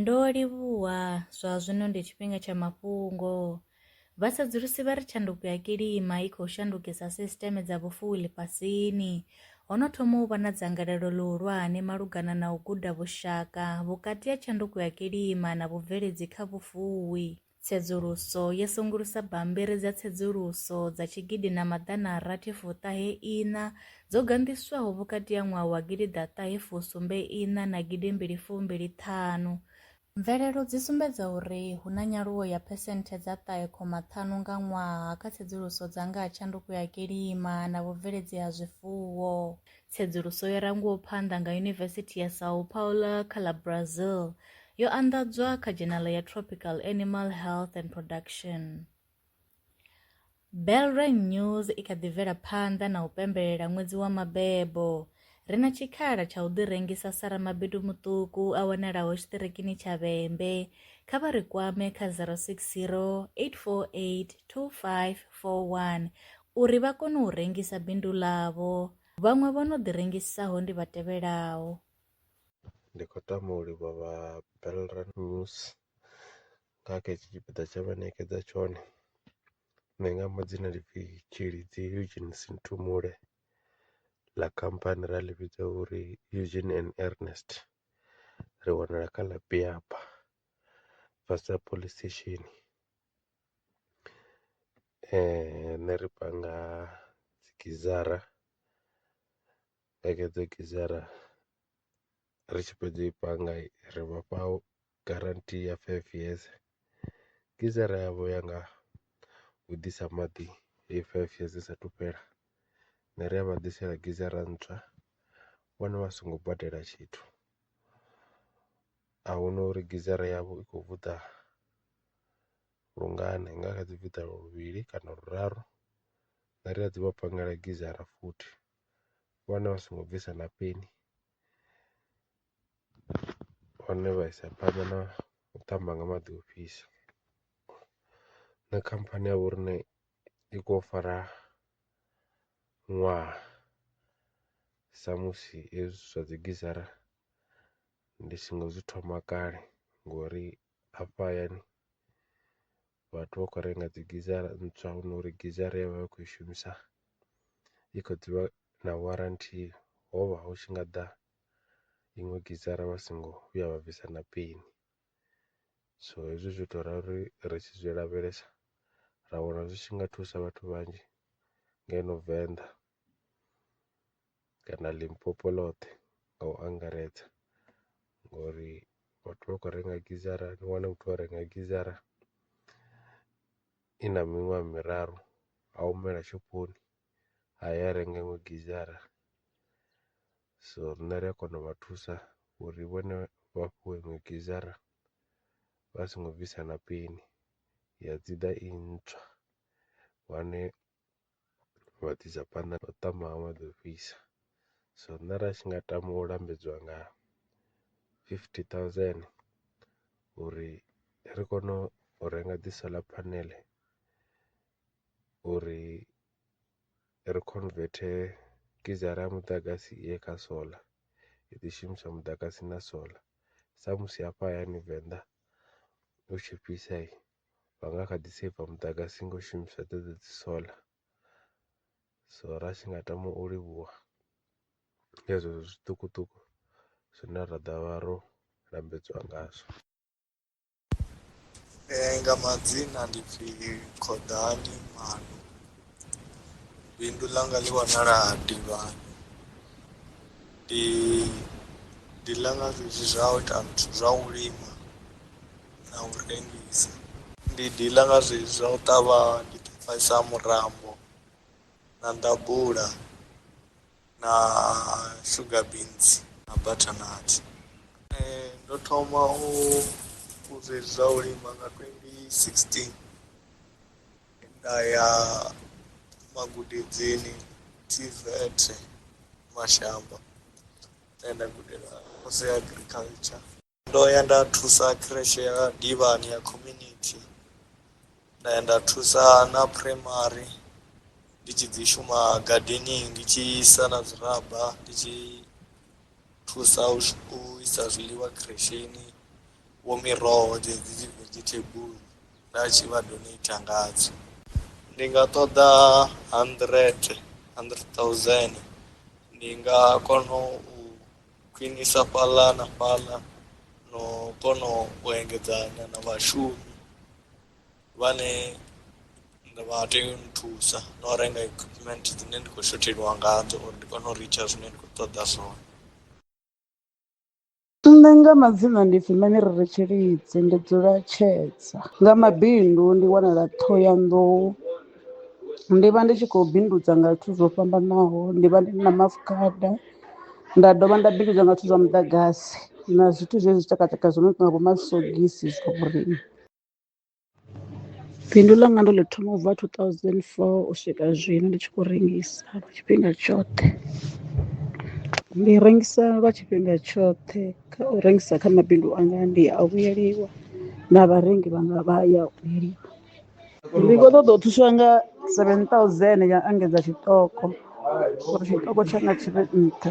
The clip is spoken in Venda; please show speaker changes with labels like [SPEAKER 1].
[SPEAKER 1] Ndo livhuwa, zwa zwino ndi tshifhinga tsha mafhungo. Vhasedzulusi vha ri tshanduko ya kilima i khou shandukisa sisiṱeme dza vhufuwi ḽifhasini. Ho no thoma u vha na dzangalelo ḽihulwane malugana na u guda vhushaka vhukati ha tshanduko ya kilima na vhubveledzi kha vhufuwi. Tsedzuluso yo sengulusa bammbiri dza tsedzuluso dza tshigidi na maḓana a rathi fuṱahe iṋa dzo ganḓiswaho vhukati ha ṅwaha wa gidi ḓa ṱahe fusumbe iṋa na gidi mbili fumbili ṱhanu. Mvelelo dzi sumbedza uri hu na nyaluwo ya phesenthe dza ṱahe khoma ṱhanu nga ṅwaha kha tsedzuluso dza nga ha tshanduko ya kilima na vhubveledzi ha zwifuwo. Tsedzuluso yo rangiwaho phanḓa nga Yunivesithi ya São Paulo kha ḽa Brazil yo anḓadzwa kha dzhenala ya Tropical Animal Health and Production. Belrain News i kha ḓi bvela phanḓa na u pembelela ṅwedzi wa mabebo. Ri na tshikhala tsha u ḓirengisa sa ramabindu muṱuku a wanalaho tshiṱirikini tsha Vhembe. Kha vha ri kwame kha 060 848 2541 uri vha kone u rengisa bindu ḽavho. Vhaṅwe vho no ḓirengisaho ndi vha tevhelaho.
[SPEAKER 2] Ndi khou tama u livhuwa vha Belra News nga kha hetshi tshipiḓa tshe vha ṋekedza tshone. Nṋe nga amba dzina ḽi pfhi Tshilidzi Eugene Sinthumule ḽa khamphani ra ḽi vhidza uri Eugene and Ernest. Ri wanala kha ḽa Piaba fhasi ha police station Riṋe ri panga dzi gizara, nga hedzo gizara ri tshi fhedza u i panga ri vha fha garanthi ya five years, gizara yavho ya nga u ḓisa maḓi heyi five years i saathu fhela, riṋe ri a vha ḓisela gizara ntswa vhone vha songo badela tshithu. A hu na uri gizara yavho i khou vhuḓa lungana nga kha dzi fhiṱa luvhili kana luraru nda ri a dzi vha pangele gizara futhi vhone vha songo bvisa na peni hone vha isa phanḓa na u ṱamba nga maḓi o fhisa na khamphani ya vho riṋe i khou fara ṅwaha samusi hezwi zwa dzi gizara ndi songo zwi thoma kale ngori afha hayani vhathu vha khou renga dzi gizara ntswa hu no uri gizara ye vha vha khou i shumisa i kha ḓi vha na warranty ho vha hu tshi nga ḓa iṅwe gizara vha songo vhuya vha bvisa na peni. So hezwi zwi ita uri ri tshi zwi lavhelesa ra wana zwi tshi nga thusa vhathu vhanzhi ngeno Venḓa. kana Limpopo ḽoṱhe nga u angaredza ngori vhathu vha khou renga gizara ni wane muthu o renga gizara i na miṅwaha miraru a humela shophoni a ya a renga iṅwe gizara, so riṋe ri a kona u vha thusa uri vhone vha fhiwe iṅwe gizara vha songo bvisa na peni ya dzi ḓa i ntswa wane. vha ḓi sa phanḓa na u tama ha maḓi ofhisa, so nṋe ra tshi nga tama u lambedziwa nga fifty thousand uri ri kone u renga dzi solar panel uri ri converter gizara ya muḓagasi i ye kha solar i ḓi shumisa muḓagasi na solar samusi hafha hayani venḓa hu tshi fhisa. vha nga kha ḓi saver muḓagasi ngo shumisa dzedzo dzi solar, so ra tshi nga tama u livhuwa nga zwezwo zwiṱukuṱuku zwine ra ḓo vha ro lambedziwa ngazwo.
[SPEAKER 3] Nga madzina ndi pfhi Khuḓani Maano. Bindu ḽanga ḽi vhonala Tivhani ndi ndi ḽa nga zwezwi zwa u ita zwithu zwa u lima na u rengisa ndi diḽa nga zwezwi zwa u ṱavha ndi ṱavhanyisa murambo na nḓabula na sugar beans na butternut ndo thoma u zwa u lima nga twendi sixteen. Nda ya magudedzini TVET Mashamba nda ya nda gudela course ya agriculture ndo ya nda thusa creche ya Divhani ya community nda ya nda thusa na primary ndi tshi dzi shuma gardening ndi tshi isa na zwiraba ndi tshi thusa u shu- u isa zwiḽiwa khiresheni vho miroho dzedzi dzi vegetable nda tshi vha donator ngadzo ndi nga ṱoḓa hundred hundred thousand ndi nga kona u khwinisa fhaḽa na fhaḽa no kona u engedzana na vhashumi vhane nda vha tea u nthusa no renga equipment dzine ndi khou shotheliwa ngadzo uri ndi kone u ritsha zwine ndi khou ṱoḓa zwone
[SPEAKER 4] Nṋe nga madzina ndi pfhi Manerere Tshilidzi ndi dzula Tshedza nga mabindu ndi wanala Ṱhohoyanḓou ndi vha ndi tshi khou bindudza nga zwithu zwo fhambanaho ndi vha ndi na maafukhada nda dovha nda bindudza nga zwithu zwa muḓagasi na zwithu zwezwi zwitshakatshaka zwo no tonga vho masogisi zwa vhoriṋe. Bindu ḽanga ndo ḽi thoma ubva 2004 u swika zwino ndi tshi khou rengisa tshifhinga tshoṱhe ndi rengisa lwa tshifhinga tshoṱhe kha u rengisa kha mabindu anga ndi a vhuyeliwa na vharengi vhanga vha ya vhuyeliwa ndi kho ṱoḓa u thuswa nga seven thousand ya engedza tshiṱoko uri tshiṱoko tshanga tshi vhe nṱha.